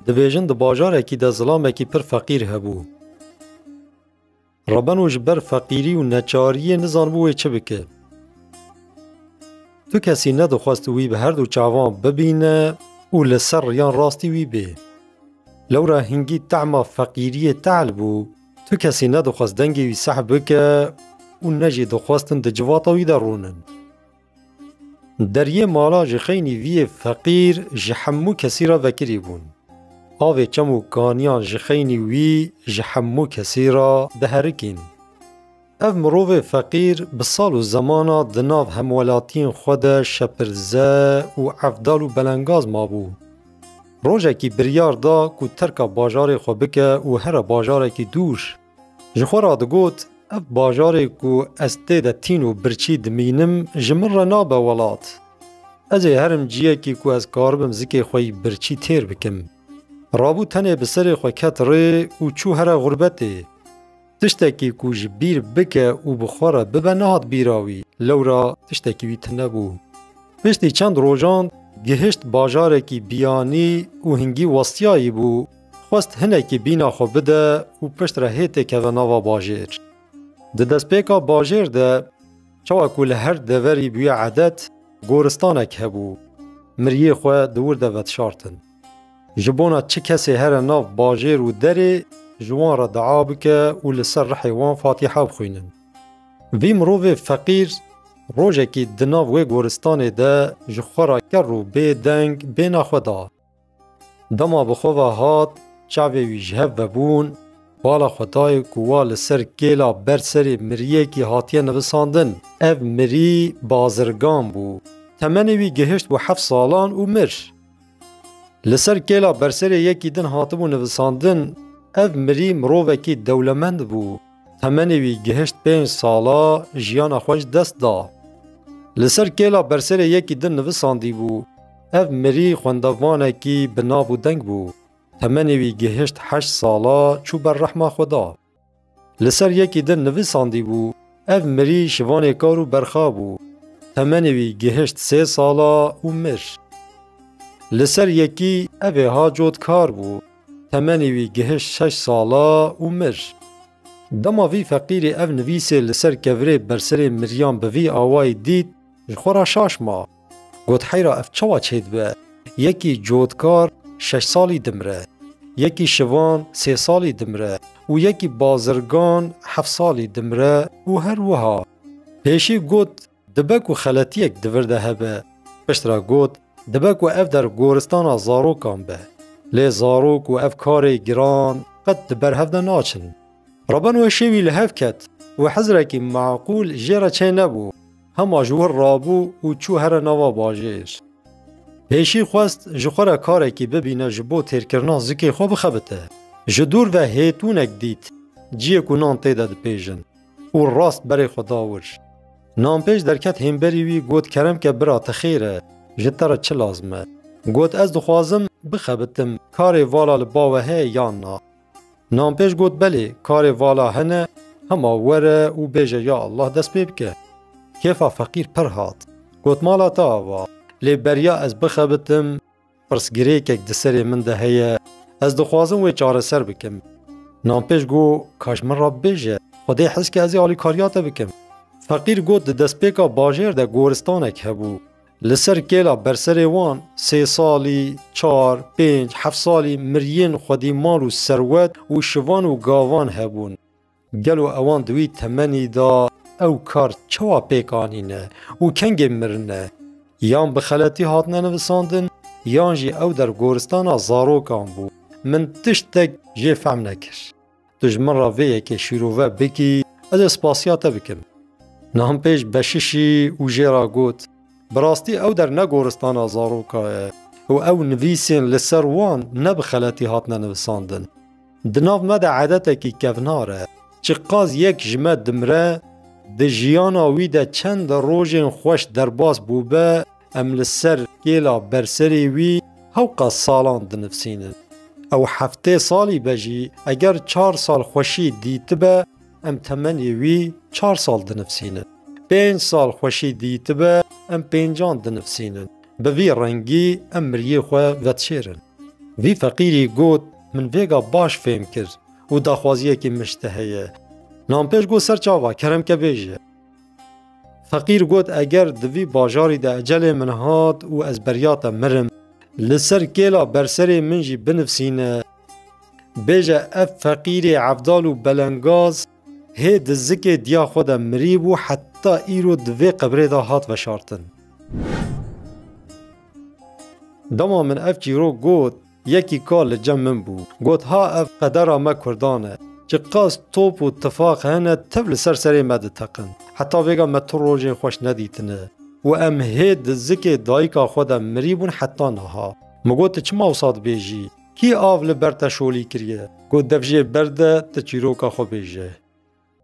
Dibêjin di bajarekî de zilamekî pir feqîr hebû. Rebeno ji ber feqîrî û neçariyê nizanibû wê çi bike. Tu kesî nedixwest wî bi herdu çavan bibîne û li ser riyan rastî wî bê. Lewra hingî tehma feqîriyê tehl bû, tu kesî nedixwest dengê wî seh bike û ne jî dixwestin di civata wî de rûnin. Deriyê mala ji xeynî vî yê feqîr ji hemû kesî re vekirî bûn. Avê çem û kaniyan ji xeynî wî ji hemû kesî re diherikîn. Ev mirovê feqîr bi sal û zemana di nav hemwelatiyên xwe de şepirze û evdal û belengaz mabû. Rojekî biryar da ku terka bajarê xwe bike û here bajarekî dûr, Ji xwe re digot, Ev bajarê ku ez tê de tîn û birçî dimînim ji min re nabe welat. Ez ê herim ciyekî ku ez karibim zikê xwe yî birçî têr bikim. Rabû tenê bi serê xwe ket rê û çû here xurbetê. Tiştekî ku ji bîr bike û bi xwe re bibe nehat bîra wî, lewra tiştekî wî tune bû. Piştî çend rojan gihişt bajarekî biyanî û hingî westiyayî bû. Xwest hinekî bîna xwe bide û pişt re hê tê keve nava bajêr. Di destpêka bajêr de çawa ku li her deverî bûye edet, goristanek hebû. Miriyê xwe di wir de vetişartin. Ji bona çi kesê here nav bajêr û derê ji wan re dua bike û li ser rihê wan Fatiha bixwînin. Vî mirovê feqîr rojekî di nav wê goristanê de ji xwe re ker û bê deng bêhna xwe da. Dema bi xwe ve hat, çavê wî ji hev vebûn, bala xwe dayê ku wa li ser kêla ber serê miriyekî hatiye nivisandin. Ev mirî bazirgan bû. Temenê wî gihişt bo heft salan û mir. Li ser kêla berserê yekî din hatibû nivisandin, ev mirî mirovekî dewlemend bû. Temenê wî gihişt pênc sala jiyana xwe ji dest da. Li ser kêla berserê yekî din nivisandîbû, Ev mirî xwendevanekî bi nav û deng bû. Temenê wî gihişt heşt sala çû ber rehma Xweda. Li ser yekî din nivisandîbû, Ev mirî şivanê kar û berxa bû. Temenê wî gihişt sê sala û mir. Li ser yekî ev ê ha cot kar bû. Temenê wî gihişt şeş sala û mir. Dema vî feqîrê ev nivîsê li ser kevirê berserê Miryan bi vî awayî dît, ji xwe re şaş ma. Got heyra ev çawa çêdibe? Yekî cotkar şeş salî dimire, yekî şivan sê salî dimire û yekî bazirgan heft salî dimire û her wiha. Pêşî got Dibe ku xeletiyek di vir de hebe. Piştre got, Dibe ku ev der goristana zarokan be. Lê zarok û ev karê giran qet di ber hev de naçin. Raben wê şêwî li hev ket û hizrekî meqûl jê re çênebû, hema ji wir rabû û çû here nava bajêr. Hêşî xwest ji xwe re karekî bibîne ji bo têrkirina zikê xwe bixebite. Ji dûr ve hêtûnek dît, ciyê ku nan tê de dipêjin. Û rast berê xwe da wir. Nanpêj derket hênberî wî got Keremke bira te xêr e, ji te re çi lazim e? Got ez dixwazim bixebitim, karê vala li ba we heye yan na? Nanpêj got belê, karê vala hene, hema were û bêje ya Allah dest pê bike. Kêfa feqîr pir hat. Got mala te ava, lê beriya ez bixebitim, Pirsgirêkek di serê min de heye, ez dixwazim wê çareser bikim. Nanpêj got, Ka ji min re bibêje, xwe dê hez ke ez ê alîkariya te bikim. Feqîr got, Di destpêka bajêr de goristanek hebû. Li ser kêla berserê wan sê salî, çar, pênc, heft salî miriyên xwedî mal û serwet û şivan û gavan hebûn. Gelo ewan di wî temenî de ew kar çawa pêk anîne û kengê mirine? Yan bi xeletî hatine nivisandin yan jî ew der goristana zarokan bû. Min tiştek jê fehm nekir. Tu ji min re vê yekê şîrove bikî ez ê spasiya te bikim. Nanpêj beşişî û jê re got, Bi rastî ew der ne goristana zaroka ye û ew nivîsên li ser wan ne bi xeletî hatine nivisandin. Di nav me de edetekî kevnar e. Çiqas yek ji me dimire, di jiyana wî de çend rojên xweş derbas bûbe, em li ser kêla berserê wî hewqa salan dinivsînin. Ew heftê salî be jî eger çar sal xweşî dîtibe, em temenê wî çar sal dinivsînin. Pênc sal xweşî dîtibe, em pêncan dinivsînin. Bi vî rengî em miriyê xwe vedişêrin. Vî feqîrî got, Min vêga baş fêm kir û daxwaziyekî min ji te heye. Nanpêj got ser çava, keremke bêje. Feqîr got, Eger di vî bajarî de ecelê min hat û ez beriya te mirim, li ser kêla berserê min jî binivsîne. Bêje ev feqîrê evdal û belengaz Hê di zikê diya xwe de mirî bû heta îro di vê qebrê de hat veşartin. Dema min ev çîrok got, yekî ka li cem min bû. Got ha ev qedera me kurdan e. Ji qas top û tifaq hene tev li ser serê me diteqin. Heta vêga me tu rojên xweş nedîtine û em hê di zikê dayika xwe de mirî bûn heta niha. Min got tu çima wisa dibêjî? Kî av li ber te şolî kiriye? Ku dev jê berde ti çîroka xwe bêje.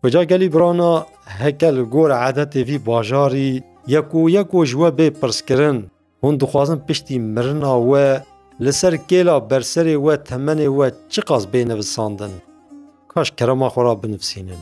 Kuca gelî birana heke li gor edetê vî bajarî yeko yeko ji we bê pirskirin, hûn dixwazin piştî mirina we li ser kêla berserê we temenê we çiqas bê nivisandin? Kaş kerema xwe re binivisînin.